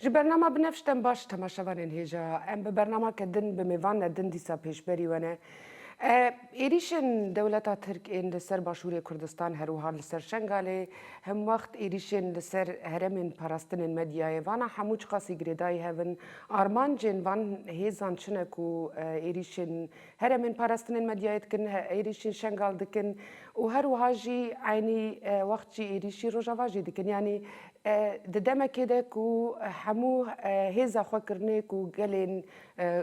Ji bernama binevş dem baş temaşevanên hêja em bi bernama ke din bi mêvan ne din dîsa pêşberî we ne. Êrîşên dewleta Tirk ên li ser başûrê Kurdistan herwiha li ser Şengalê hemwext êrîşên li ser heremên parastinên medyayê vana hemû çiqasî girêdayî hev in Armancên van hêzan çi ne ku êrîşên heremên parastinên medyayê dikin, êrîşên Şengal dikin û her wiha jî eynî wext jî êrîşî Rojava jî dikin. Yanî di demekê de ku hemû hêza xwe kirine ku gelên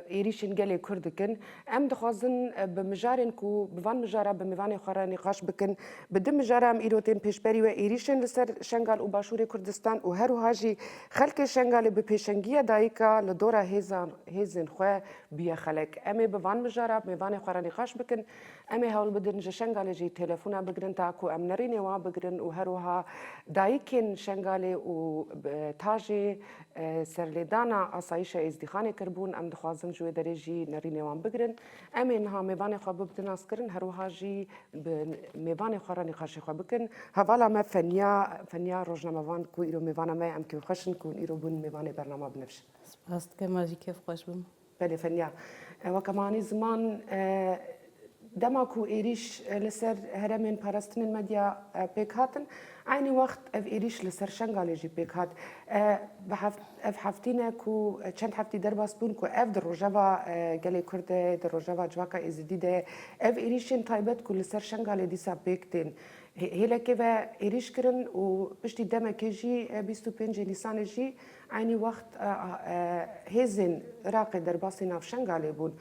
êrîşên gelê Kurd dikin. Em dixwazin bi mijarên ku bi van mijara bi mêvanê xwe re nîqaş bikin. Bi di mijara em îro tên pêşberî we êrîşên li ser Şengal û Başûrê Kurdistan û her wiha jî Xelkê Şengalê bi pêşengiya dayika li dora hêzan hêzên xwe bûye xelek. Em ê bi van mijara mêvanê xwe re nîqaş bikin. Em ê hewl bidin ji Şengalê jî têlefûna bigrin ta ku em nerînê wan bigrin û her wiha dayikên Şengalê û ta jê serlêdana asayîşa Êzdîxanê kiribûn em dixwazin ji wê derê jî nerînê wan bigrin. Em ê niha mêvanê xwe bibe naskirin, her wiha jî bi mêvanê xwe re nîqaşê xwe bikin. Hevala me Fenya, Fenya rojnamevan ku îro mêvana me ye, em kêfxweş in ku hûn îro bûn mêvanê bernama binivîsin. Spas dike, ma jî kêfxweş bûm. Belê Fenya, weke ma anî ziman, dema ku êrîş li ser heremên parastinên medya pêk hatin, Eynî wext ev êrîş li ser Şengalê jî pêk hat. Ev heftî ne ku çend heftî derbas bûn ku ev di rojeva gelê Kurd de, di rojeva civaka Êzidî de ev êrîşên taybet ku li ser Şengalê dîsa pêk tên. Hêlekê ve êrîş kirin û piştî demekê jî bîst û pêncê Nîsanê jî eynî wext hêzên Iraqê derbasî nav Şengalê bûn.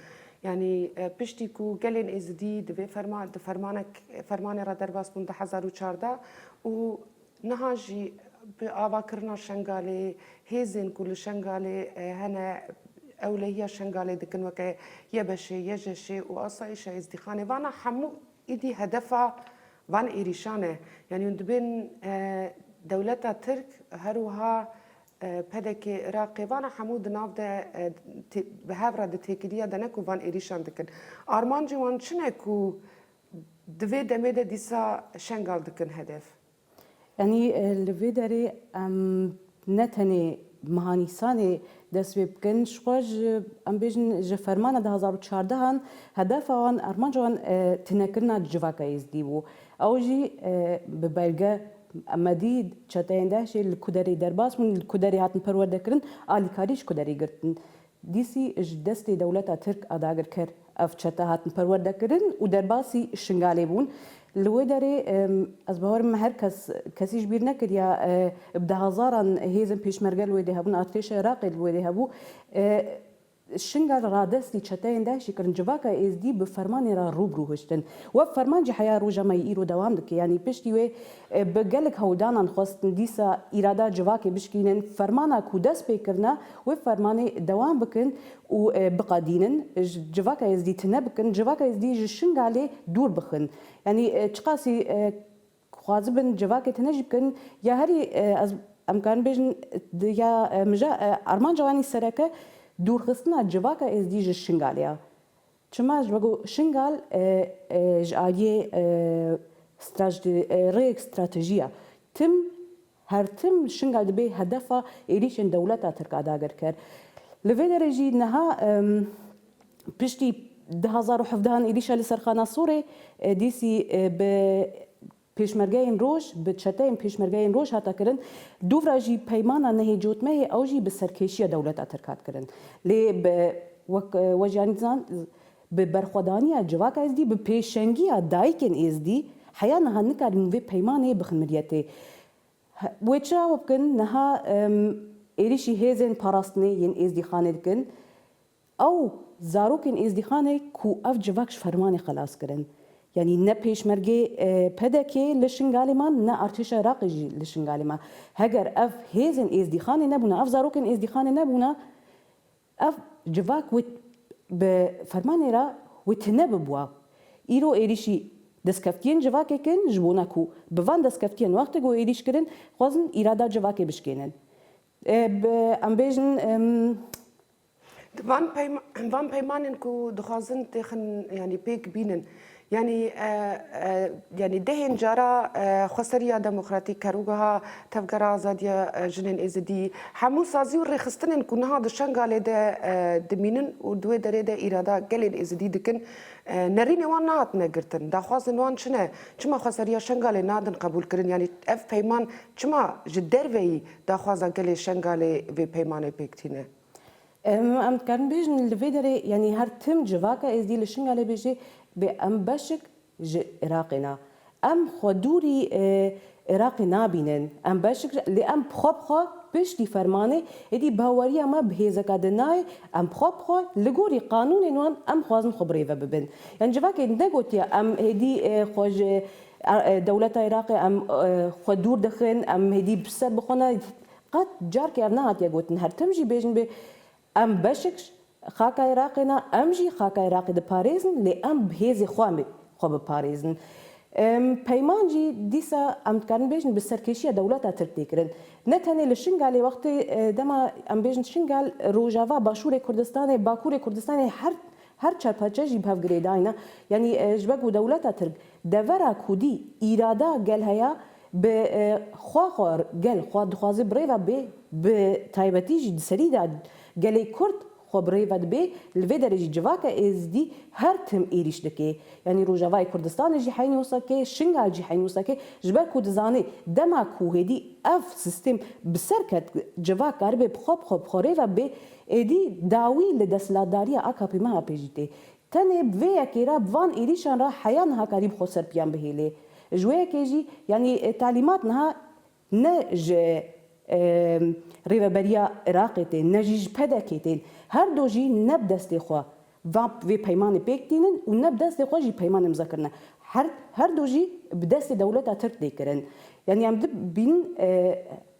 Yanî piştî ku gelên êzidî di vê ferman di fermanek fermanê re derbas bûn di hezar û çardeh û niha jî bi avakirina Şengalê hêzên ku li Şengalê hene ewlehiya Şengalê dikin weke YBŞ'ê, YJŞ'ê û Asayîşa Êzdîxanê vana hemû îdî hedefa van êrîşan e. Yanî hûn dibên dewleta Tirk her wiha Pdk, Iraqê vana hemû di nav de bi hev re di têkiliya de ne ku van êrîşan dikin. Armancê wan çi ne ku di vê demê de dîsa Şengal dikin hedef? Yanî li vê derê em ne tenê meha Nîsanê dest pê bikin ji xwe ji em bêjin ji fermana du hezar û çardeh an hedefa wan armanca wan tunekirina civaka Êzdî bû. Ew jî bi belge Me dît çeteyên DAIŞ'ê li Kuderê derbas bûn, li Kuderê hatin perwerdekirin, alîkarî ji Kuderê girtin. Dîsî ji destê dewleta Tirk a dagirker ev çete hatin perwerdekirin û derbasî Şingalê bûn. Li wê derê ez bawerim me her kes kesî ji bîr nekiriya bi dehazaran hêzên pêşmerge li wê dê hebûn, artêşa Iraqê li wê dê hebû. Şingal radestî çeteyên DAIŞ'î kirin, civaka Êzdî bi fermanê re rû bi rû hiştin. Wek ferman jî heya roja me yê îro dewam dike. Yanî piştî wê bi gelek hewldanan xwestin dîsa îrada civakê bişkînin, fermana ku dest pê kirine wê fermanê dewam bikin û biqedînin civaka Êzdî tune bikin, civaka Êzdî ji Şingalê dûr bixin. Yanî çiqasî Xwazibin civakê tune jî bikin ya herî ez em karin bêjin ya mije armanca wan sereke dûrxistina civaka êzdî ji Şingalê ya. Çima ji ku Şingal ji aliyê rêyek stratejî ya. Tim Her tim şin gal dibe hedefa êrîşên dewleta Tirk a dagirker. Li vê derê jî niha piştî du hezar û hevdeh an êrîşa li ser Xana Sûrê dîsî bi Pêşmergeyên Roj, bi çeteyên Pêşmergeyên Roj hate kirin. Dûvra jî peymana nehê cotmehê ew jî bi serkêşiya dewleta Tirk hat kirin. Lê bi wek Wejî Anît Zand Bi berxwedaniya civaka êzdî, bi pêşengiya dayikên êzdî heya niha nikarin vê peymanê bixin miryetê. Wê çira we bikin niha em êrîşî hêzên parastinê yên êzdîxanê dikin. Ew zarokên êzdîxanê ku ev civak ji fermanê xelas kirin. Yanî ne pêşmergê pdk li Şingalê man ne artêşa Iraqê jî li Şingalê ma. Heger ev hêzên êzdîxanê nebûna, ev zarokên êzdîxanê nebûna Ev civak wê bi fermanê re wê tune bibûa. Îro êrîşî destkeftiyên civakê kirin ji bona ku bi van destkeftiyên wextê ku êrîş kirin xwezin îrada civakê bişkênin. Em bêjin. Di van peymanên ku dixwazin têxin yanî pêk bînin Yanî yanî dehên cara xweseriya demokratîk ker û geha tevgera azadiya jinên êzidî hemû sazî û rêxistinên ku niha di Şengalê de dimînin û di wê derê de îrada gelên êzidî dikin nerînê wan nehatine girtin. Daxwazên wan çi ne? Çima xweseriya Şengalê nadin qebûlkirin? Yanî ev peyman çima ji derveyî daxwaza gelê Şengalê vê peymanê pêk tîne? Em dikarin bêjin li vê derê yanî her tim civaka êzdî li Şingalê bêje bê em beşik ji Iraqê ne. Em xwe dûrî Iraqê nabînin. Em beşik lê em bi xwe bi xwe piştî fermanê êdî baweriya me bi hêzeke din nayê. Em bi xwe bi xwe li gorî qanûnên wan em dixwazin xwe birêve bibin. Yanî civakê negotiye em êdî xwe ji dewleta Iraqê em xwe dûr dixin, em êdî bi ser bi xwe ne Qet carkê ev nehatiye gotin her tim jî bêjin bê em beşik ji xaka Iraqê ne, em jî xaka Iraqê diparêzin lê em bi hêzê xwe em ê xwe biparêzin. Peyman jî dîsa em dikarin bêjin bi serkêşiya dewleta Tirk tê kirin. Ne tenê li Şingalê wextê dema em bêjin Şingal rojava başûrê Kurdistanê bakûrê Kurdistanê her her çar parçe jî bi hev girêdayne. Yanî ji ber ku dewleta Tirk devera ku dî îrada gel heya Bi xwe xwe gel xwe dixwaze bi rêve bê, bi taybetî jî di serî de gelê kurd xwe bi rêve dibê, li vê derê jî civaka êzidî her tim êrîş dike. Yanî Rojavayê Kurdistanê jî heyn wisa ke, Şingal jî heyn wisa ke, ji ber ku dizane dema ku hêdî ev sîstêm bi ser ket civak karibe bi xwe bi xwe bi xwe rêve bibê, êdî dawî li desthilatdariya AKP-MHP'ê jî tê. Tenê bi vê yekê re, bi van êrîşan re heya niha karî bi xwe serpiyan bihêlê. Ji wê yekê jî yanî talîmat niha ne ji Rêveberiya Iraqê tên, ne jî ji PDK'ê tên. Her do jî ne bi destê xwe va vê peymanê pêk tînin û ne bi destê xwe jî peyman îmza kirine. Her her do jî bi destê dewleta Tirk tê kirin. Yanî em dibînin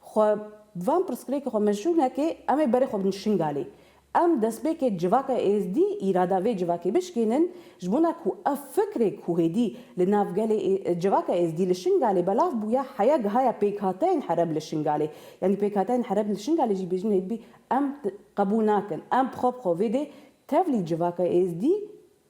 Xwe bi van pirsgirêkê xwe meşrû neke, em ê berê xwe bidin Şingalê. Em destpêkê civaka Êzdî îrada vê civakê bişkênin, ji bona ku ev fikrê ku hêdî li nav gelê civaka Êzdî li Şingalê belav bûye heya gihaya pêkhateyên hereb li Şingalê. Yanî pêkhateyên hereb li Şingalê jî bêjin hêdbî em qebûl nakin. Em bi xwe bi xwe vê dê tevlî civaka Êzdî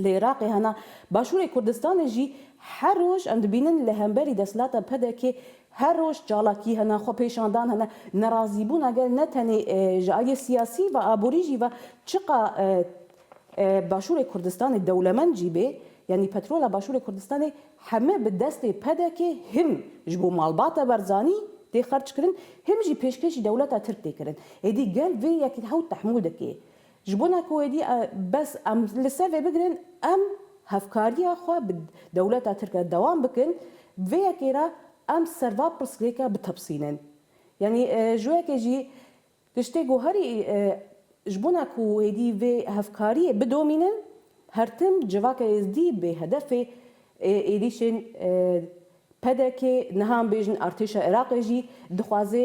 Li Iraqê hena Başûrê Kurdistanê jî her roj em dibînin li hemberî desthilata PDK'ê her roj çalakî hene, xwepêşandan hene, nerazîbûna gel ne tenê ji aliyê siyasî ve aborî jî ve çiqa Başûrê Kurdistanê dewlemend jî bê yanî petrola Başûrê Kurdistanê heme bi destê PDK'ê him ji bo malbata Barzanî tê xerçkirin him jî pêşkêşî dewleta Tirk tê kirin. Êdî gel vê yekî hewt tehmûl dike. Ji bona ku êdî bes em li ser vê bigirin, em hevkariya xwe bi dewleta Tirk re dewam bikin, bi vê yekê re em ser va pirsgirêke bitepisînin. Yanî ji wekê jî tiştê ku herî ji bona ku êdî vê hevkariyê bidomînin, her tim civaka êzdî bê hedefê êrîşên PDK'ê, niha em bêjin artêşa Iraqê jî dixwaze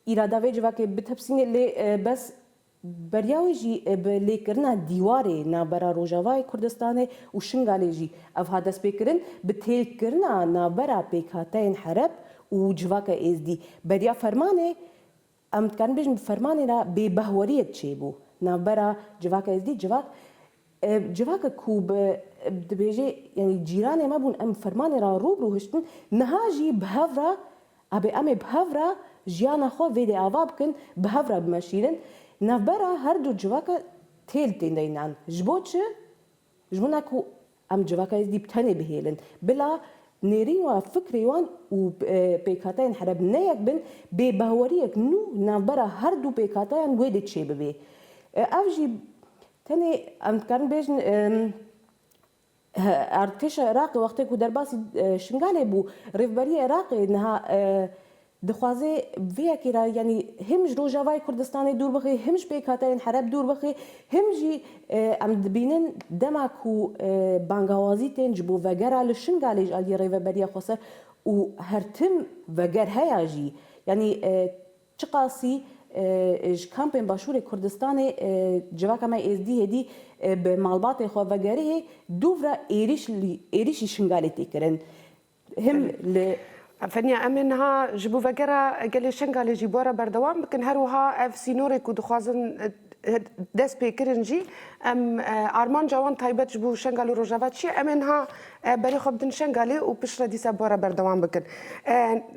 Îrada vê civakê bitepisîne lê bes beriya wê jî bi lêkirina dîwarê navbera Rojavayê Kurdistanê û Şingalê jî ev hat destpêkirin, bi têkkirina navbera pêkhateyên hereb û civaka êzdî. Beriya fermanê em dikarin bêjin bi fermanê re bêbehweriyek çêbû navbera civaka êzdî, civak. Civaka ku bi dibêjê yanî cîranê me bûn em fermanê re rû bi rû hiştin niha jî bi hev re abê em ê bi hev re jiyana xwe vê dê ava bikin bi hev re bimeşîrin navbera her du civaka tê li tên de înan ji bo çi ji bo ne ku em civaka êzdî bi tenê bihêlin bila nêrîn wa fikrê wan û pêkhateyên hereb ne yek bin bê behweriyek nû navbera her du pêkhateyan wê dê çê bibê ev jî Tenê em dikarin bêjin erdkêşa Iraqê wextê ku derbasî Şingalê bû, Rêvberiya Iraqê niha dixwaze bi vê yekê re yanî him ji Rojavayê Kurdistanê dûr bixê, him ji pêkhateyên hereb dûr bixê, him jî em dibînin dema ku bangawazî tên ji bo vegera li Şingalê ji aliyê Rêveberiya Xweser û her tim veger heya jî yanî Çiqasî ji kampên Başûrê Kurdistanê civaka me Êzdî hêdî bi malbatên xwe vegerihê dûvra êrîş êrîşî Şingalê tê kirin. Him li. Feniya, em ê niha ji bo vegera gelê Şingalê jî bora berdewam bikin. Her wiha ev sînorê ku dixwazin dest pê kirin jî em armanca wan taybet ji bo Şengal û Rojava çi ye? Em ê niha berê xwe bidin Şengalê û piştre dîsa bara berdewam bikin.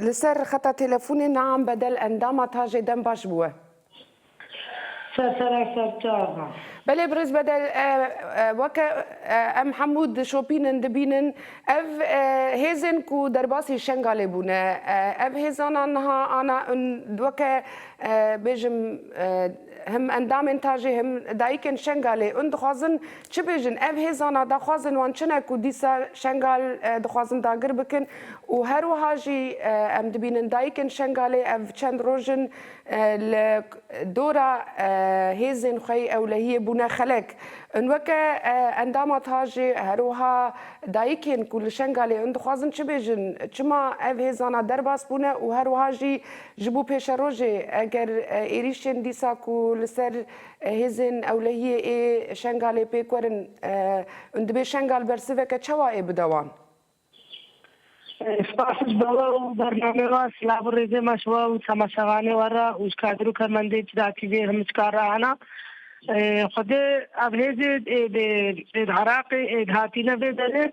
Li ser xeta têlefonê Naam Bedel endama Tajê dem baş bû we. Ser sera ser çava. Belê birêz Bedel weke em hemû dişopînin dibînin ev hêzên ku derbasî Şengalê bûne ev hêzana niha ana weke bêjim him endamên ta jê him dayikên Şengalê un dixwazin çi bêjin ev hêzana daxwazên wan çi ne ku dîsa Şengal dixwazin dagir bikin û her wiha jî em dibînin dayikên Şengalê ev çend rojin li dora hêzên xwe yê ewlehiyê bûne xelek un weke endama ta jê her wiha dayikên ku li Şengalê un dixwazin çi bêjin çima ev hêzana derbas bûne û her wiha jî Ji bo pêşerojê, eger êrîşên dîsa ku li ser hêzên ewlehiyê ê Şengalê pêk werin û dibê Şengal bersiveke çawa ê bidewan? Spas ji we û bernameyê we. Silav û rêzê me ji we û temaşevanê we re û ji kadir û kemendên Cida TV'ê himiçkar re hene. Xwedê ev hêzê ê ê di Iraqê ê dihatîne vê derê.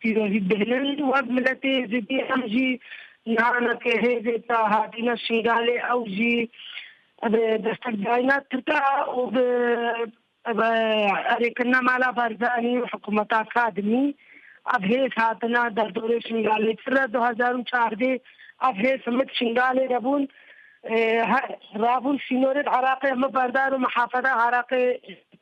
Pîrozî bihînin wek miletê Êzidî em jî nihana ke hêzê ta hatîna Şingalê ew jî bi destek dayîna Tirka û bi bi erê kirina mala Barzanî û hikûmeta Kadimî ev hêz hatina derdorê Şingalê Ti re du hezar û çardê ev hêz himit Şingalê de bûn her rabûn sînorê Iraqê himi berdar û mihafeda Iraqê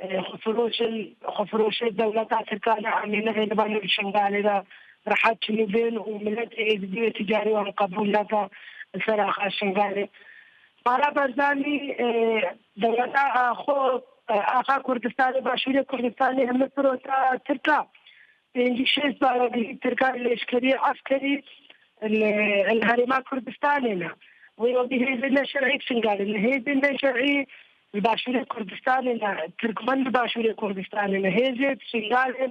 Xwefiroşin, xwefiroşê dewleta Tirkan e em ê nehêlin ba nû li Şingalê de rehet çinûbên û miletê êzidî wê ti carî wan qebûl neke li ser axa Şingalê. Bala Barzanî dewleta xwe axa Kurdistanê, Başûrê Kurdistanê hemû pirota Tirk a. Pêncî şêst baragirî Tirk a lêşkerî, eskerî li herêma Kurdistanê ne. Wê wekî hêzên ne şerî li Şingalê ne, hêzên ne şerî, Li Başûrê Kurdistanê ne Tirkmen li Başûrê Kurdistanê ne hêzê Şingalê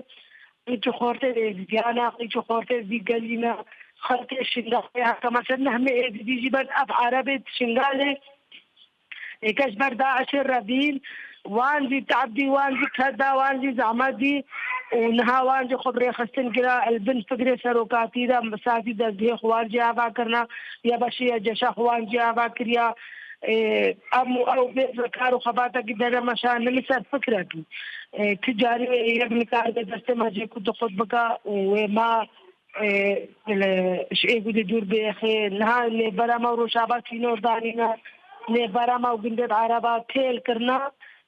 qîçû xortên Êzidîyan e, qîçû xortên vî gelî ne xelkê Şingalê heta mesela nehmê Êzidî jî ben ev Erebê di Şingalê êke ji ber DAIŞ'ê re bîn wan jî te'ebdî wan jî ped da wan jî zehmet dî û niha wan jî xwe bi rêxistin kira li bin figrê serokatî de sazî dezgehê xwe wan jî ava kirina ya beşê ya ceşa xwe wan jî ava kiriya. Em û ew bê bi kar û xebatekî dere me şandin li ser fikrekî. Ti carî wê yek nikar be destê me jê ku tu xurt bika û wê ma li ji Êgûdê dûr bêxê. Niha nêvbera me û Rojava sînor danîne. Nêvbera me û gundên Araba kêl kirine.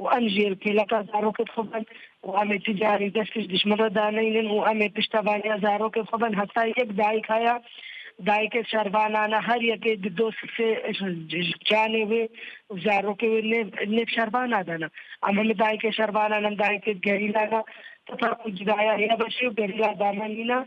û em ji kêleka zarokên xwe ben û em ê tu carî dest pişt dijmin re daneynin û em ê pişta vaniya zarokên xwe ben heta yek dayik haya dayikê şervanan e her yekê di do sifê ji canê wê û zarokê wê nêv nêv şervana dana em heme dayikê şervanan em dayikê gerîlan e heta ku cudaya heye beşê û gerîla dama nîna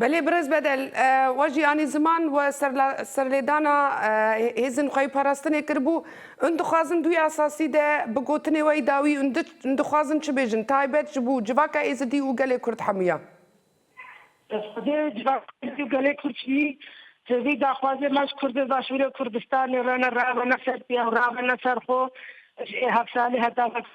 Belê birêz Bedel, we jî anî ziman we serlêdana hêzên xwe yê parastinê kiribû. Hûn dixwazin dû yê esasî de bi gotinê we yî dawî hûn dixwazin çi bêjin taybet ji bo civaka êzidî û gelê kurd hemûya? Dest xwedê civaka êzidî û gelê kurd jî ji vî daxwazê me ji kurdên başûrê kurdistanê re ne rabene ser pê ew rabene ser xwe ji ê hevsalê heta vekirî.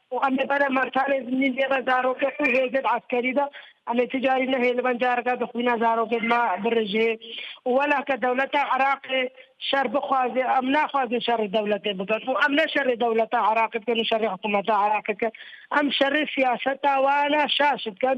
û em li ber emertanê zimnîn dê re zarokê xwe hêzê bi eskerî de em ê ti carî nehê li ben careke di xwîna zarokê dima birijê û wela ke dewleta Iraqê şer bixwazê em naxwazin şerê dewletê bikin û em ne şerê dewleta Iraqê dikin û şerê hikûmeta Iraqê dikin em şerê siyaseta wana şaş dikin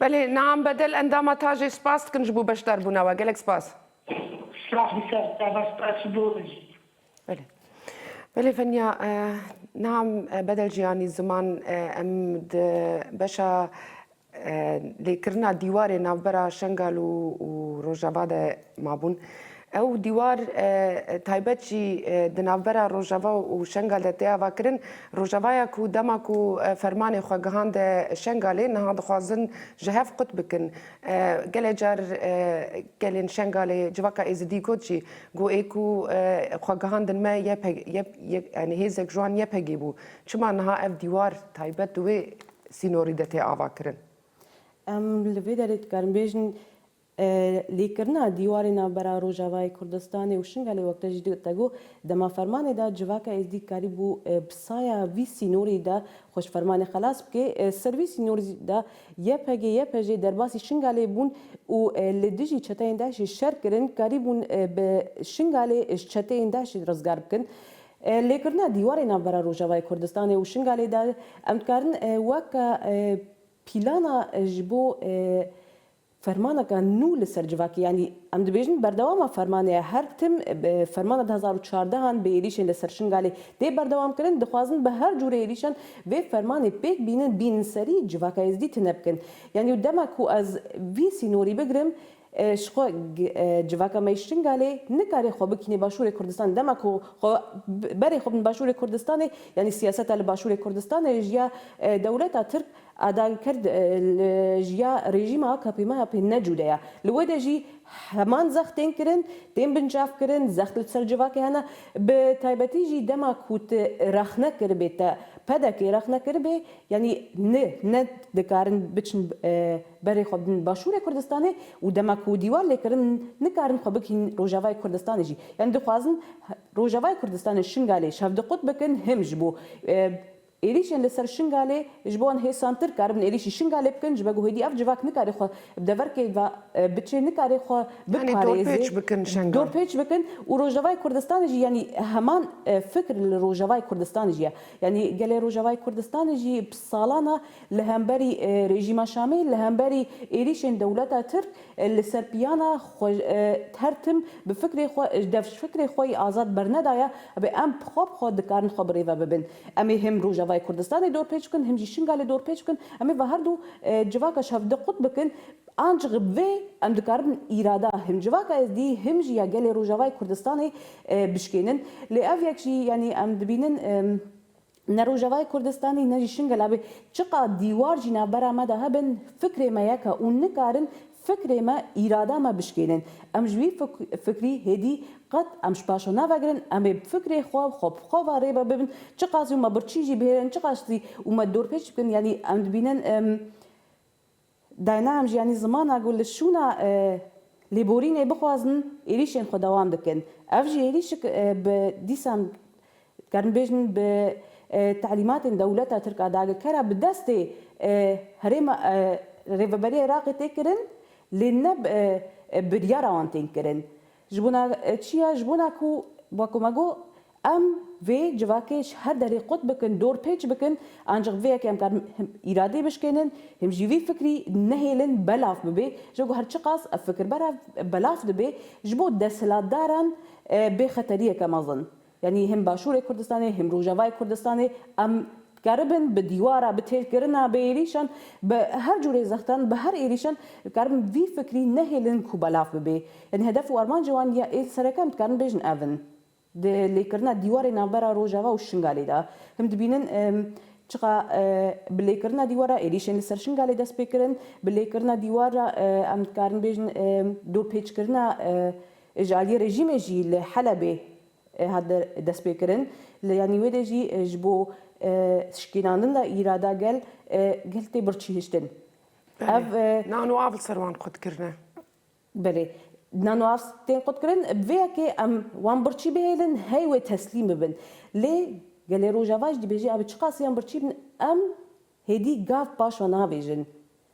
Belê, Naam Bedel endama tajê spas dikin ji bo beşdarbûna we. Gelek spas. Spas bi ser te ve, spas ji bo min jî. Belê. Belê Fenya, Naam Bedel Jiyanî Ziman em di beşa lêkirina dîwarê navbera Şengal û Rojava de mabûn. Ew dîwar taybet jî di navbera Rojava û Şengal de tê avakirin. Rojavaya ku dema ku fermanê xwe gihande Şengalê niha dixwazin ji hev qut bikin. Gelê car gelên Şengalê civaka Êzidî got jî ku ê ku xwe gihandin me yanî hêzek ji wan YPG'ê bû. Çima niha ev dîwar taybet di wê sînorî de tê avakirin? Em li vê derê dikarin bêjin Lêkirina dîwarê navbera Rojavayê Kurdistanê û Şingalê wekde jî digote ku dema fermanê de civaka êzdî dikarîbû bi saya vî sînorî de xwe ji fermanê xelas bike, ser vî sînorî de YPG, YPJ derbasî Şingalê bûn û li dijî çeteyên DAIŞ'ê şer kirin, karîbûn bi Şingalê ji çeteyên DAIŞ'ê rizgar bikin. Lêkirina dîwarê navbera Rojavayê Kurdistanê û Şingalê de em dikarin weke pîlana ji bo Fermaneke nû li ser civakê yanî em dibêjin berdewama fermanê ye. Her tim fermana du hezar û çardeh an bi êrîşên li ser Şingalê tê berdewamkirin. Dixwazin bi her cûrê êrîşan vê fermanê pêk bînin, bînin serî civaka Êzidî tune bikin. Yanî û dema ku ez vî sînorî bigirim ji xwe civaka me yê Şingalê nikarê xwe bikînê başûrê Kurdistanê. Dema ku xwe berê xwe bin başûrê Kurdistanê yanî siyaseta li başûrê Kurdistanê ji ya dewleta Tirk A dayîn Kurd li jiya rejîma AKP-MHP'ê ne cude ye. Li we de jî heman zext tên kirin, tên binçavkirin, zext li ser civakê hene. Bi taybetî jî dema ku tu rexne kiribê te, PDK'ê rexne kiribê, yanî ni ne dikarin biçin berê xwe bin Başûrê Kurdistanê û dema ku dîwar lê kirin nikarin xwe bigihîn Rojavayê Kurdistanê jî. Yanî dixwazin Rojavayê Kurdistanê Şingalê şevdiqut bikin him ji bo Êrîşên li ser Şingalê, ji bo hêsan Tirk karibin êrîşî Şingalê bikin, ji vego hêdî ev civak nikarê xwe bi deverkê ve biçê, nikarê xwe biparêzê, dorpêç bikin û Rojavayê Kurdistanê jî yanî heman fikr li Rojavayê Kurdistanê jî ye. Yanî gelê Rojavayê Kurdistanê jî bi salan e li hemberî rejîma Şamê, li hemberî êrîşên dewleta Tirk li ser piyan e, xwe her tim bi fikrê xwe, dev ji fikrê xwe yê azad bernedaye, ebê em bi xwe bi xwe dikarin xwe bi rêve bibin. Em ê him Rojavayê Kurdistanê dorpêç bikin, him jî Şingalê dorpêç bikin. Em ê ve her du civaka şevde qut bikin. Ancik bi vê em dikarin îrada him civaka Êzdî, him jî ya gelê Rojavayê Kurdistanê bişkênin. Lê ev yek jî yanî em dibînin ne Rojavayê Kurdistanê ne jî Şingala bê çiqad dîwar jî navbera me de hebin, fikrê me yek e û nikarin Fikrê me, îrada me bişkênên. Em ji wî fikrî hêdî qet em ji paşo navegirin, em ê bi fikrê xwe xwe bi xwe ve rêve bibin. Çiqas jî me birçî jî bihêlin, çiqas jî û me dorpêç bikin yanî em dibînin dayna em ji yanî zimana ku li şûna lêborînê bixwazin êrîşên xwe dewam dikin. Ev jî êrîşik bi dîsan Dikarin bêjin bi telîmatên dewleta Tirk a dagirkera bi destê herêma Rêveberiya Iraqê tê kirin lê ne bi biryara wan tên kirin. Ji bona çi ya? Ji bona ku weko me got em vê civakê ji her derê qut bikin, dorpêç bikin ancik bi vê yekê em karin him îradê bişkênin, him jî vî fikrî nehêlin belav bibê. Ji ku her çiqas ev fikir belav dibê ji bo desthilatdaran bê xeteriyeke mezin. Yanî him Başûrê Kurdistanê him Rojavayê Kurdistanê em dikaribin bi dîwara, bi têrkirina, bi êrîşan, bi her cûrê zextan, bi her êrîşan dikaribin vî fikrî nehêlin ku belav bibe. Yanî hedef û armancê wan ya êl sereke em dikarin bêjin ev in. Di lêkirina dîwarê navbera Rojava û Şingalê de him dibînin çiqa bi lêkirina dîwara êrîşên li ser Şingalê dest pê kirin. Bi lêkirina dîwar re em dikarin bêjin dorpêçkirina Ji aliyê rejîmê jî li Helebê hat destpêkirin. Li yanî wê de jî ji bo şikînandina îrada gel, gel tê birçîhiştin. Ev. Nan û av li ser wan qut kirine. Belê. Nan û av tên qutkirin. Bi vê yekê em wan birçî bihêlin, hey wê teslîm bibin. Lê gelê Rojava jî dibêje ev çiqas yan birçî bin, em hêdî gav paş ve navêjin.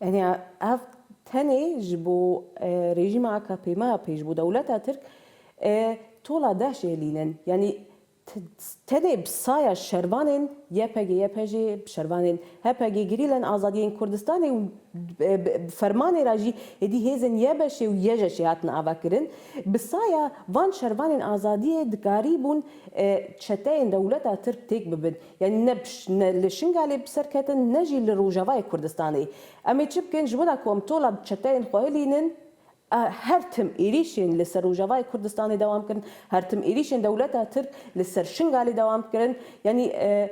Yanî ev tenê ji bo rejîma akp me pê ji bo dewleta tirk tola deh jêlînin. Yanî tenê bi saya şervanên YPG-YPJ'ê, bi şervanên HPG, Gerîleyên Azadî yên Kurdistanê û bi fermanê re jî êdî hêzên YBŞ'ê û YJŞ'ê hatin avakirin, bi saya van şervanên azadiyê dikarîbûn çeteyên dewleta tirk têk bibin. Yanî ne ne li Şingalê bi ser ketin ne jî li Rojavayê Kurdistanê. Em ê çi bikin ji wina ku em tola bi çeteyên xwe hilînin a her tim êrîşên li ser Rojavayê Kurdistanê dewam kirin, her tim êrîşên dewleta Tirk li ser Şingalê dewam kirin. Yanî ev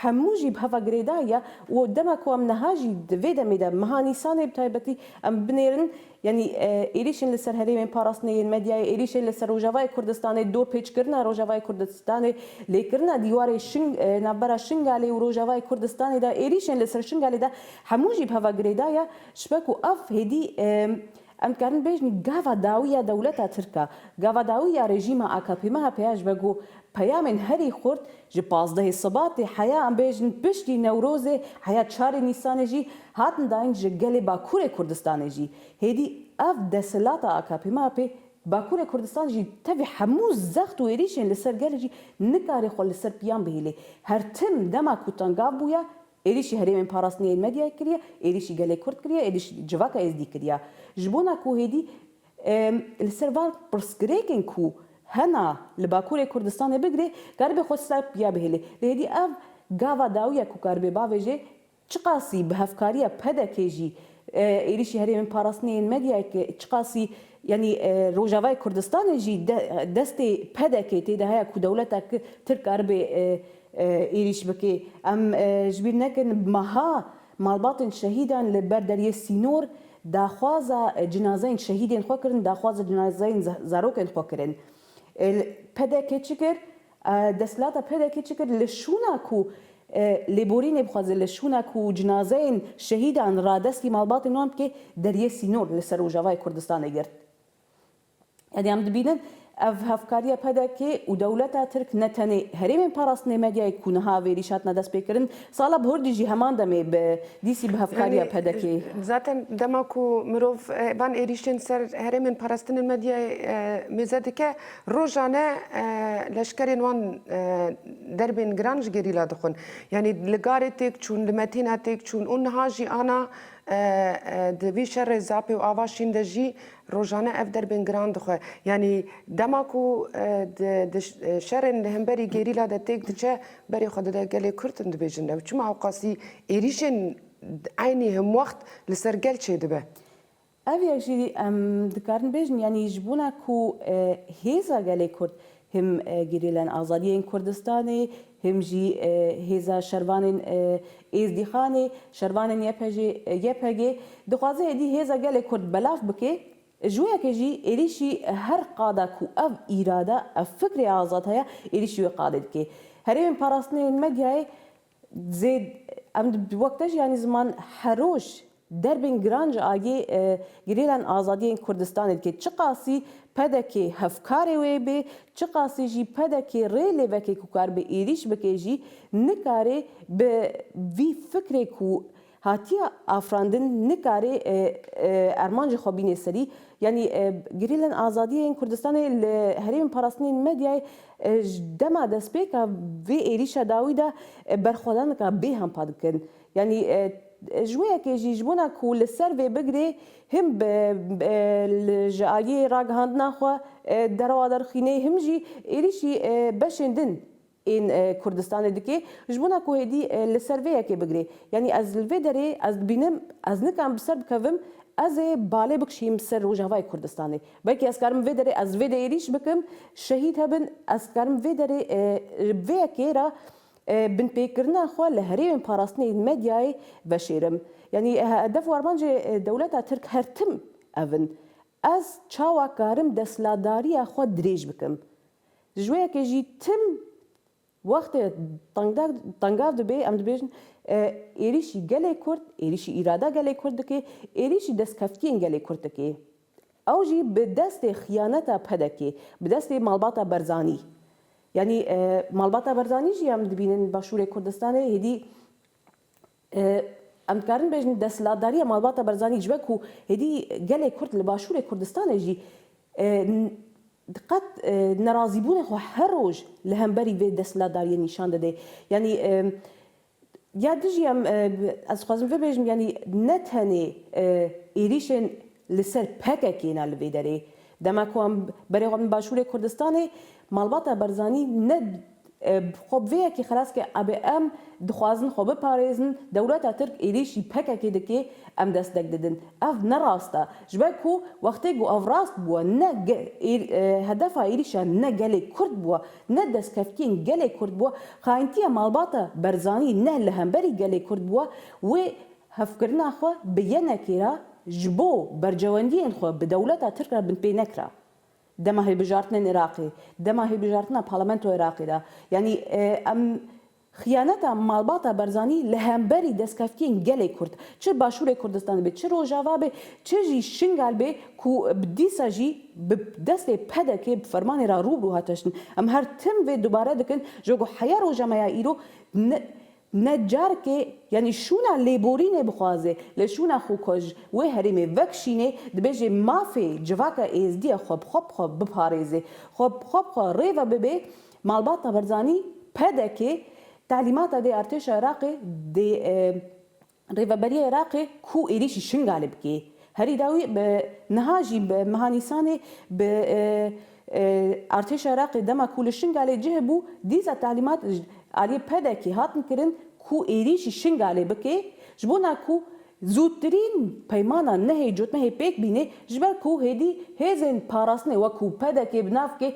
hemû jî bi heva girêdayî ye û dema ku em niha jî di vê demê de meha Nîsanê bi taybetî em binêrin, Yanî êrîşên li ser herêmên parastinê yên medyayê, êrîşên li ser Rojavayê Kurdistanê, dorpêçkirina Rojavayê Kurdistanê, lêkirina dîwarê navbera Şingalê û Rojavayê Kurdistanê de, êrîşên li ser Şingalê de hemû jî bi heva girêda ye. Ji ber ku ev hêdî em dikarin bêjin gava dawî ya dewleta Tirk e, gava dawî ya rejîma AKP-MHP'ye ji ber ku peyamên herî xurt Ji pazdehê Sibatê heya em bêjin piştî Newrozê heya çarê Nîsanê jî hatin dayîn ji gelê Bakurê Kurdistanê jî. Hêdî ev desthilata AKP-MHP'ê di Bakurê Kurdistanê jî tevî hemû zext û êrîşên li ser gelê jî nikarî xwe li ser piyan bihêlê. Her tim dema ku tengav bûya êrîşî herêmên parastinê yên medyayê kiriye, êrîşî gelê Kurd kiriye, êrîşî civaka Êzdî kiriye. Ji bona ku hêdî. Li ser van pirsgirêkên ku hena li Bakurê Kurdistanê bigirê karibê xwe çi dar piya bihêlê. Lê hêdî ev gava dawî ye ku karibê bavê jê çiqasî bi hevkariya PDK'ê jî êrîşî herêmên parastinê yên medyayê ki çiqasî yanî Rojavayê Kurdistanê jî destê PDK'ê tê de heye ku dewleta Tirk karibê êrîş bikê. Em ji bîr nekin meha Malbatên şehîdan li ber deriyê sînor daxwaza cinazeyên şehîdên xwe kirin, daxwaza cinazeyên zarokên xwe kirin. PDK'ê çi kir? Desthilata PDK'ê çi kir? Li şûna ku lêborînê bixwaze, li şûna ku cinazeyên şehîdan radestî malbatên wan bike, deriyê sînor li ser Rojavayê Kurdistanê girt. Em ê em dibînin ev hevkariya pdk û dewleta tirk ne tenê herêmên parastinê medyayê ku niha vêrîş hatine destpêkirin, sala bihurdî jî heman demê bi dîsî bi hevkariya pdkê. Zaten dema ku mirov van êrîşên ser herêmên parastinên medyayê mêze dike, rojane leşkerên wan derbên giran ji gerîla dixwin. Yanî li garê têk çûn, li metîna têk çûn û niha jî ana di vî şerê zapê û ava şîn de jî Rojane ev derbên giran dixwe. Yanî dema ku di şerên li hemberî gerîla de têk diçe berê xwe dide gelê Kurd in dibêjin ew çima ewqasî êrîşên eynî himwext li ser gel çêdibe. Ev yek jî em dikarin bêjin yanî ji bona ku hêza gelê Kurd Him gerîlên azadiyê yên Kurdistanê, him jî hêza şervan ên Êzdîxanê, şervan ên YPG, YPG, dixwaze êdî hêza gelê Kurd belav bike, ji wê yekê jî êrîşî her qada ku ev îrada, ev fikrê azad heye, êrîşî wê qadê dike. Herêmên parastinê ên medyayê Zê em di wek te jî yanî ziman heroj derbên giran ji aliyê girêlan azadî yên Kurdistanê dike. Çiqasî pdk hevkarê wê bê, çiqasî jî pdk rê lê veke ku karibe êrîş bike jî nikarê bi vî fikrê ku Hatiye afirandin nikare erman ji xwe bîne serî. Yanî gerîlên azadiyê yên Kurdistanê li herêmên parastinên medyayê ji dema destpêka vê êrîşa dawî de berxwedanika bê hempa dikin. Yanî ji wê yekê jî ji bona ku li ser vê bigirê him ji aliyê ragihandina xwe derewa derxîne him jî êrîşî beşên din Ên Kurdistanê dike ji bona ku hêdî li ser vê yekê bigire. Yanî ez li vê derê ez dibînim ez nikarim bi ser bikevim ez ê balê bikişîm ser Rojavayê Kurdistanê. Belkî ez karim vê derê ez vê de êrîş bikim şehîd hebin ez karim vê derê ji vê yekê re binpêkirina xwe li herêmên parastinê yên medyayê veşêrim. Yanî hedef û armancê dewleta Tirk her tim ev in. Ez çawa karim desthilatdariya xwe dirêj bikim. Ji wê yekê jî tim wextê tengav dibê, em dibêjin êrîşî gelê Kurd, êrîşî îrada gelê Kurd dike, êrîşî destkeftiyên gelê Kurd dike. Ew jî bi destê xiyaneta PDK'ê, bi destê malbata Berzanî. Yanî malbata Berzanî jî em dibînin Başûrê Kurdistanê hêdî Em dikarin bêjin desthilatdariya malbata Barzanî ji we ku êdî gelê Kurd li Başûrê Kurdistanê jî qet nerazîbûnê xwe her roj li hemberî vê desthilatdariyê nîşan dide. Yanî ya dijî em ez dixwazim vê bêjim yanî ne tenê êrîşên Li ser pkk na li vê derê dema ku em berêxwebin başûrê Kurdistanê malbata Barzanî ne xwe bi vê yekê xilas kir abê em dixwazin xwe biparêzin dewleta Tirk êrîşî pkk dike em destek didin ev ne rast e ji ber ku wextê ku ev rast bûye ne hedefa êrîşa ne gelê Kurd bûye ne destkevkiyên gelê Kurd bûye xayintiya malbata Barzanî ne li hemberî gelê Kurd bûye wê Hevkirina xwe bi yenekî re ji bo bercewendiyên xwe bi dewleta Tirk re binpê nekira. Dema hilbijartinên Iraqê, dema hilbijartina parlamentoya Iraqê de. Yanî em xiyaneta malbata Barzanî li hemberî destkeftiyên gelê Kurd, çi başûrê Kurdistanê bê, çi rojava bê, çi jî Şingal bê ku dîsa jî bi destê PDK'ê bi fermanê re rû bi rû hat teştin. Em her tim vê dubare dikin ji bo ku heya roja me ya îro Ne carkê yanî şûna lêborînê bixwaze lê şûna xwekoj wê herêmê vekişînê, dibêje mafê civaka êzdî ya xwe bi xwe bi xwe biparêze, xwe bi xwe bi xwe rêve bibe, malbata Barzanî, pdk, talîmata dê artêşa Iraqê dê. Rêveberiya Iraqê ku êrîşî Şingalê bikê herî dawî bi niha jî bi meha Nîsanê bi artêşa Iraqê dema ku li Şingalê cih hebû dîsa talîmat ji aliyê PEDEKê hatin kirin ku êrîşî Şingalê bike ji bona ku zûtirîn peymana nehê cotmehê pêk bîne ji ber ku hêdî hêzên parastinê wek ku PEDEKê bi nav bike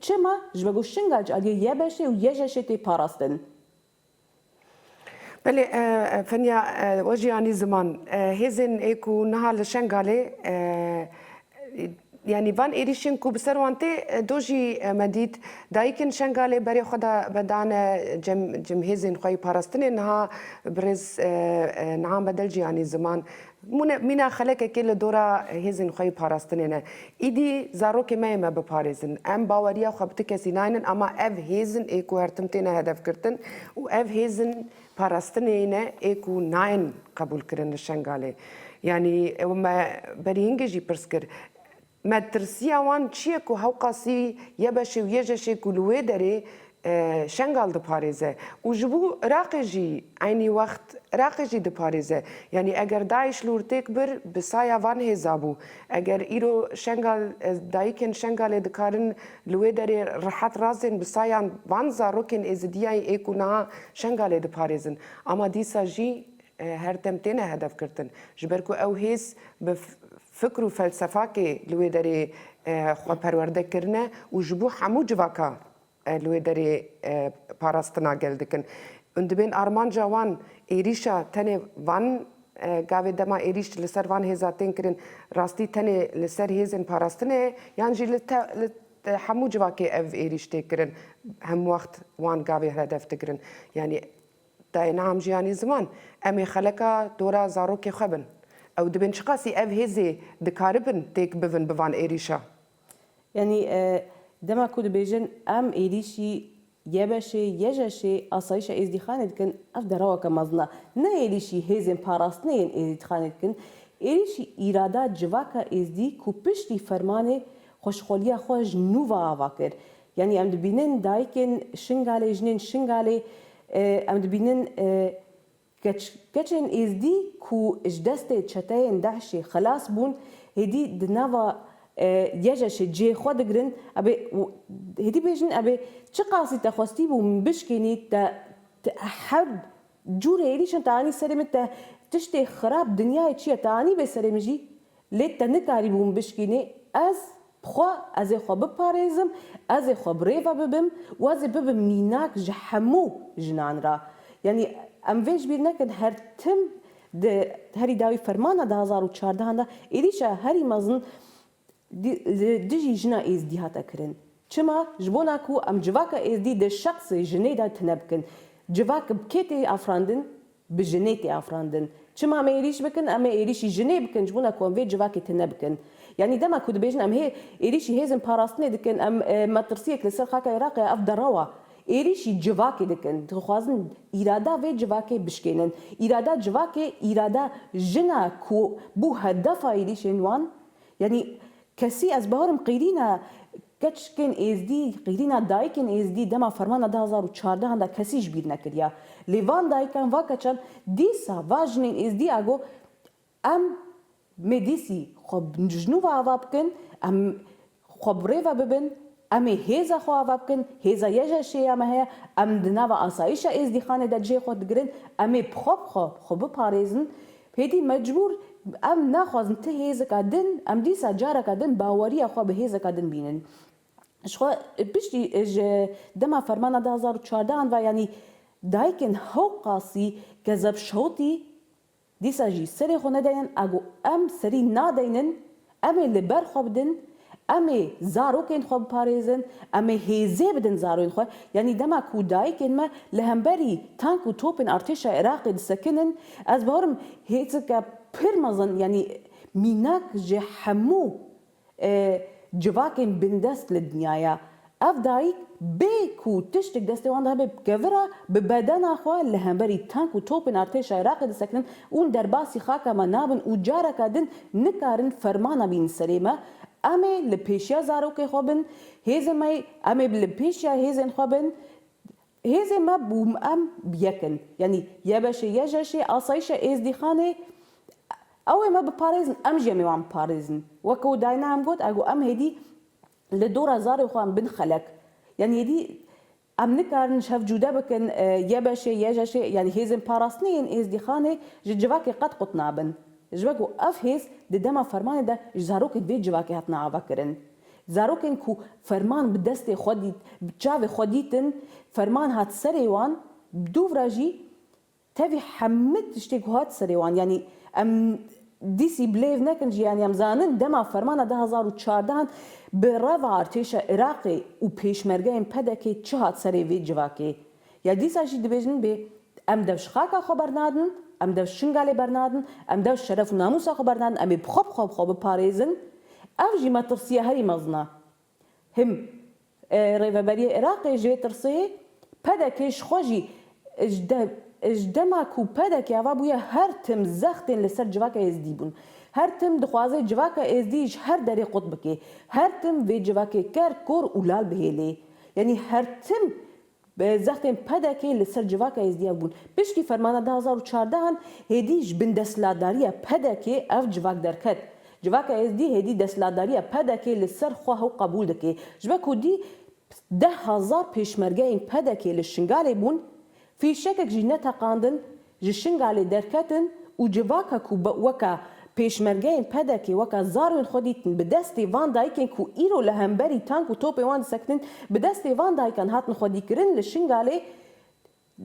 Çima? Ji ber ku şingac aliyê YBŞ'ê û YJŞ'ê tê parastin. Belê, Fenya Wejiyanî Ziman, Hêzên ê ku niha li Şengalê yanî van êrîşên ku bi ser wan tê do jî me dît, dayikên Şengalê berê xwe vedane cem hêzên xwe yê parastinê niha birêz Nihan Bedelciyanî Ziman Mîna xelekekê li dora hêzên xwe yê parastinê ne. Îdî zarokê me yê me biparêzin. Em baweriya xwe bi ti kesî naynin ama ev hêzin ê ku her tim têne hedefgirtin û ev hêzin parastinê yê ne ê ku nayên qebûlkirin li Şengalê. Yanî me berî hingê jî pirs kir, Metirsiya wan çi ye ku Hewqasî yebeşê û yejeşê ku li wê derê Şengal diparêze û ji bo Iraqê jî eynî wext Iraqê jî diparêze. Yanî eger DAIŞ li wir têk bir bi saya van hêza bû. Eger îro Şengal dayikên Şengalê dikarin li wê derê rihet razên bi sayan van zarokên êzidiyayî ê ku niha Şengalê diparêzin ama dîsa jî her dem têne hedefgirtin ji ber ku ew hêz bi Fikr û felsefakê li wê derê xwe perwerde kirine û ji bo hemû civaka li wê derê parastina gel dikin. Hûn dibên armanca wan êrîşa tenê van gavê dema êrîş li ser van hêza tên kirin rastî tenê li ser hêzên parastinê ye yan jî li li hemû civakê ev êrîş tê kirin hemwext wan gavê hedef digirin yanî Te yê niha em jî anî ziman. Em ê xeleka tora zarokê xwe bin. Ew dibên çiqasî ev hêzê dikaribin têk bivin bi van êrîşa? Yanî dema ku dibêjin em êrîşî YBŞ'ê, YJŞ'ê, Asayîşa Êzdîxanê dikin, ev deraweke mezin e. Ne êrîşî hêzên parastinê yên Êzdîxanê dikin. Êrîşî îrada civaka Êzdî ku piştî fermanê xweşxoliya xwe ji nû va ava kir. Yanî em dibînin dayikên Şingalê, jinên Şingalê, em dibînin keç, keçên Êzdî ku ji destê çeteyên DAIŞ'ê xelas bûn, hêdî di nava YEJEŞ'ê cihê xwe digirin, ebê hêdî bêjin ebê çiqasî te xwestîbû min bişkînî, te her cûrê êrîşan te anî serê min, te tiştê xirab dinyayê çi ye te anîbê serê min jî, Lê te nikarîbûn bişkînî ez bi xwe ez ê xwe biparêzim, ez ê xwe bi rê ve bibim û ez ê bibim mînak ji hemû jinan re. Yanî em vê ji bîr nekin her tim di herî dawî fermana du hezar û çardeh an de êrîşa herî mezin li dijî jina êzdî hate kirin. Çima? Ji bona ku em civaka êzdî di şexsê jinê de tune bikin. Civak bi kê tê afirandin? Bi jinê tê afirandin. Çima em ê êrîş bikin? Em ê êrîşî jinê bikin ji bo ku em vê civakê tune bikin. Yanî dema ku dibêjin em hê êrîşî hêzên parastinê dikin, em metirsiyek li ser xaka Iraqê ye, ev derewa êrîşî civakê dikin. Dixwazin îrada vê civakê bişkênin. Îrada civakê îrada jin e ku bû hedefa êrîşên wan. Yanî kesî ez bawer im qîrîna Keçikên Êzdî, Qîrîna dayikên Êzdî dema fermana du hezar û çardehan de kesî ji bîr nekiriya. Lê van dayikan, va keçan dîsa va jinên Êzdî a got, Em mê dîsî xwe ji nû ve ava bikin, em xwe bi rê ve bibin, em ê hêza xwe ava bikin, hêza YJŞ'ê ya me heye, em di nava asayîşa Êzdîxanê de cihê xwe digirin, em ê bi xwe bi xwe xwe biparêzin. Hêdî mecbûr em naxwazin ti hêzeka din, em dîsa careke din baweriya xwe bi hêzeka din bînin. Ji xwe piştî ji dema fermana du hezar û çardeh an ve yanî dayikên hew qasî Gezeb Şewtî dîsa jî serê xwe nedayên a ku em serî nadeynin Em ê li ber xwe bidin, em ê zarokên xwe biparêzin, em ê hêzê bidin zarên xwe. Yanî dema ku dayikên me li hemberî tank û topên artêşa Iraqê disekinin, ez bawerim hêzeke pir mezin yanî mînak ji hemû civakên bindest li dinyaya Ev dayik bê ku tiştek destê wan de hebe bi kevira bi bedena xwe li hemberî tank û topên artêşa Iraqê disekinin û li derbasî xaka me nabin û careke din nikarin fermana bînin serê me, em ê li pêşiya zarokê xwe bin, hêzên me em ê li pêşiya hêzên xwe bin, hêzên me û em yek in. Yanî YBŞ'ê, YJŞ'ê, Asayîşa Êzdîxanê ew ê me biparêzin, em jî em ê wan biparêzin. Weke ku Dayna em got, e got em hêdî Li dora zarê xwe em bin xelek. Yanî êdî em nikarin ji hev cûde bikin, YBŞ'ê, YJŞ'ê yanî hêzên parastinê yên Êzdîxanê ji civakê qet qut nabin. Ji ber ku ev hêz di dema fermanê de ji zarokên vê civakê hatine avekirin. Zarokên ku ferman bi destê xwe dît, bi çavê xwe dîtin, ferman hat serê wan, bi dûvra jî Tevî hemû tiştê ku hat serê wan yanî em dîsî bilêv nekin jî yanî em zanin dema fermana du hezar û çardeh an bi reva artêşa Iraqê û pêşmergeyên PDKê çi hat serê vê civakê ya dîsa jî dibêjin bê em dev ji xaka xwe bernadin em dev ji Şingalê bernadin em dev ji şeref û namûsa xwe bernadin em ê bi xwe bi xwe bi xwe biparêzin ev jî metirsiya herî mezin a Him Rêveberiyê Iraqê jê tirsê pdk ji xwe jî ji dema ku pdk ava bûye her tim zextên li ser civaka êzdî bûn. Her tim dixwaze civaka êzdî ji her derê qut bike. Her tim vê civakê ker, kor û lal bihêlê. Yanî her tim Bi zextên PDK'ê li ser civaka Êzdiyan bûn. Piştî fermana du hezar û çardeh an hêdî ji bin desthilatdariya PDK'ê ev civak derket. Civaka Êzdî hêdî desthilatdariya PDK'ê li ser xwe hew qebûl dike. Ji ber ku dî deh hezar pêşmergeyên PDK'ê li Şingalê bûn, fîşekek jî neteqandin, Ji Şingalê derketin û civaka ku weka pêşmergeyên PDK'ê weka zarên xwe dîtin bi destê van dayikên ku îro li hemberî tank û topên wan disekinin bi destê van dayikan hatin xwedîkirin li Şingalê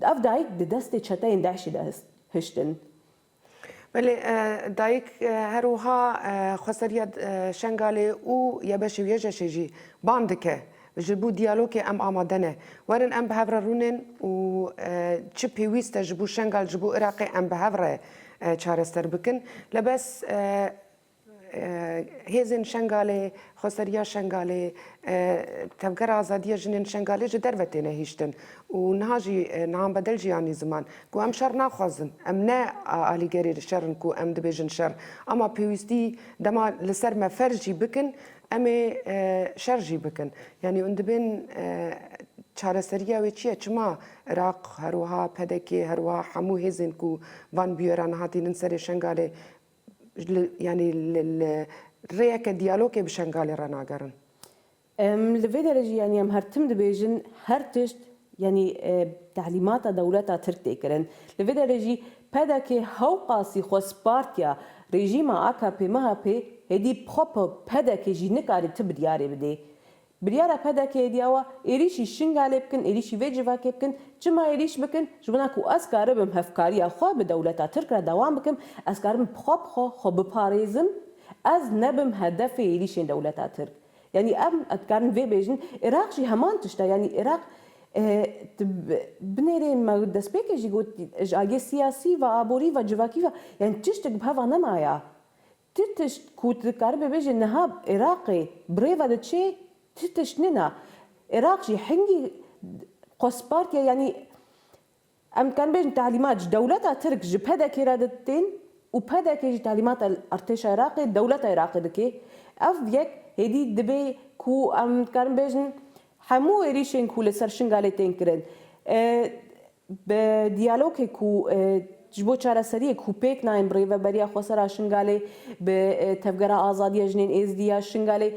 ev dayik di destê çeteyên DAIŞ'ê de hiştin. Belê dayik her wiha xweseriya Şengalê û ya beşê û ya jeşê jî bang dike Ji bo diyalogê em amade ne. Werin em bi hev re rûnên û çi pêwîst e ji bo Şengal, ji bo Iraqê em bi hev re çareser bikin. Lebes hêzên Şengalê, Xweseriya Şengalê, Tevgera Azadiya Jinên Şengalê ji derve têne hiştin û niha jî nihan bedel jî anî ziman ku em şer naxwazin. Em ne alîgerê şer in ku em dibêjin şer ama pêwîstî dema li ser me ferz jî bikin Em ê şer jî bikin. Yanî hûn dibên çareseriya wê çi ye? Çima Iraq her wiha pdk her wiha hemû hêzên ku van bûyeran hatînin serê Şengalê yanî li rêyeke diyalogê bi Şengalê re nagerin? Em li vê derê jî yanî em her tim dibêjin her tişt Yanî telîmata dewleta Tirk tê kirin. Li vê derê jî pdk hewqasî xwe spartiya rejîma AKP-MHP'ê hêdî xwe bi pdk jî nikare ti biryarê bidê. Biryara pdk hêdî ew a êrîşî Şingalê bikin, êrîşî vê civakê bikin. Çima êrîş bikin? Ji wana ku ez karibim hevkariya xwe bi dewleta Tirk re dewam bikim, ez karibim bi xwe bi xwe xwe biparêzim, ez nebim hedefê êrîşên dewleta Tirk. Yanî em dikarin vê bêjin Iraq jî heman tişt e. Yanî Iraq di binêrê me destpêkê jî got ji aliyê siyasî ve, aborî ve, civakî ve yanî tiştik bi hev ve nemaye. Ti tişt ku tu dikaribê bêjê niha Iraqê bi rê ve diçê ti tişt nîne. Iraq jî hingî xwe spartiye yanî. Em dikarin bêjin telîmat ji dewleta Tirk ji PDK'ê re diditên û PDK jî telîmata li Artêşa Iraqê, dewleta Iraqê dike. Ev yek hêdî dibe ku em dikarin bêjin hemû êrîşên ku li ser Şingalê tên kirin bi diyalogê ku ji bo çareseriyê ku pêk nayên bi Rêveberiya Xwesera Şingalê, bi Tevgera Azadiya Jinên Êzidî ya Şingalê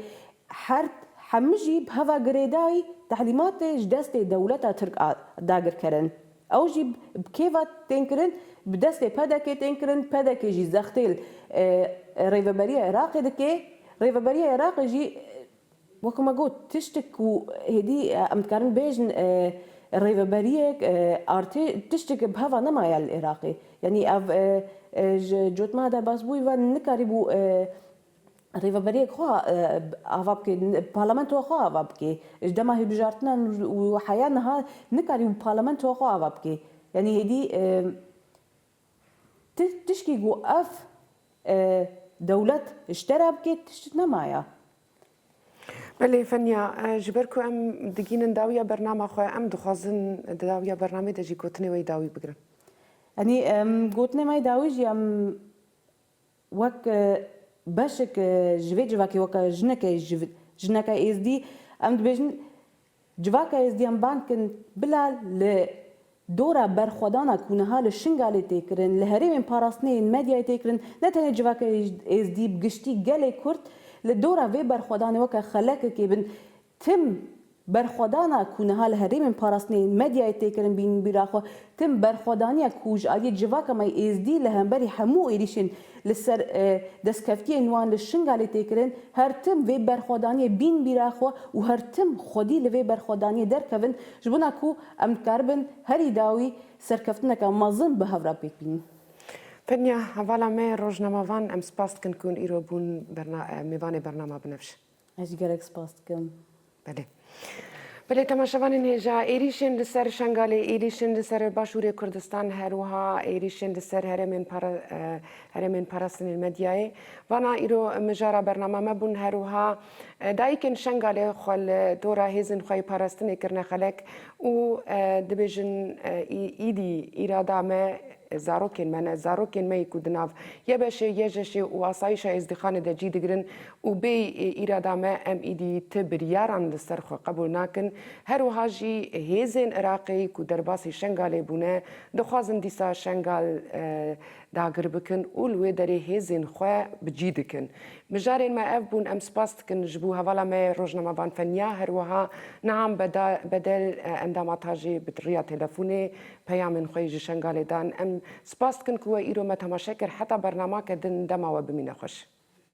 Her hemû jî bi heva girêdayî tehlîmatê ji destê dewleta Tirk a dagir kirin. Ew jî bi kêva tên kirin, bi destê PDK'ê tên kirin, pdk jî zextê li Rêveberiya Iraqê dike, Rêveberiya Iraqê jî wek me got tiştek ku hêdî em dikarin bêjin rêveberiyek, artê tişteke bi heva nemaye li Iraqê. Yanî ev ji cotmeha derbasbûyî ve nikarîbû Rêveberiyek xwe ava bike, parlamentoya xwe ava bike. Ji dema hilbijartinan û heya niha nikarî wî parlamentoya xwe ava bike. Yanî hêdî ti tişkî ku ev dewlet ji te re bike tişt nemaya. Belê Fenya, ji ber ku em digînin dawiya bernama xwe, em dixwazin di dawiya bernamê de jî gotinê wê dawî bigirin. Yanî gotinê me dawî jî em Wek beşek ji vê civakê weke jineke ji jineke êzdî em dibêjin civaka êzdiyan bang kin bila li dora berxwedana ku niha li Şingalê tê kirin, li herêmên parastinê yên medyayê tê kirin ne tenê civaka êzdî bi giştî gelê Kurd li dora vê berxwedanê weke xelekekê bin Tim berxwedana ku niha li herêmên parastinê yên medyayê tê kirin bînin bîra xwe, tim berxwedaniya ku ji aliyê civaka me yê Êzdî li hemberî hemû êrîşên li ser destkeftiyên wan li Şingalê tê kirin, her tim vê berxwedaniyê bîn bîra xwe û her tim xwedî li vê berxwedaniyê derkevin ji bona ku em dikaribin herî dawî serkeftineke mezin bi hev re pêk bînin. Tenya hevala me rojnamavan em spas dikin ku hûn îro bûn mêvanê bernama Binevş. Ez jî gelek spas dikim. Belê. Belê temaşevanên hêja êrîşên li ser Şengalê, êrîşên li ser Başûrê Kurdistan her wiha êrîşên li ser herêmên para herêmên parastinên medyayê vana îro mijara bernama me bûn her wiha dayikên Şengalê xwe li tora hêzên xwe yê parastinê kirine xelek û dibêjin îdî îrada me zarokên me ne zarokên me yê ku di nav YBŞê, YJŞê û Asayîşa Êzdîxanê de cî digirin Û bê îrada me em êdî ti biryaran li ser xwe qebûl nakin. Her wiha jî hêzên Iraqê ku derbasî Şengalê bûne dixwazin dîsa Şengal dagir bikin û li wê derê hêzên xwe bi cî dikin. Mijarên me ev bûn. Em spas dikin ji bo hevala me Rojnamevan Fenya her wiha Nihan Bedel endama tajê bi rêya telefonê peyamên xwe yê ji Şengalê dan. Em spas dikin ku we îro me temaşe kir. Heta bernamake din dema we bimîne xweş.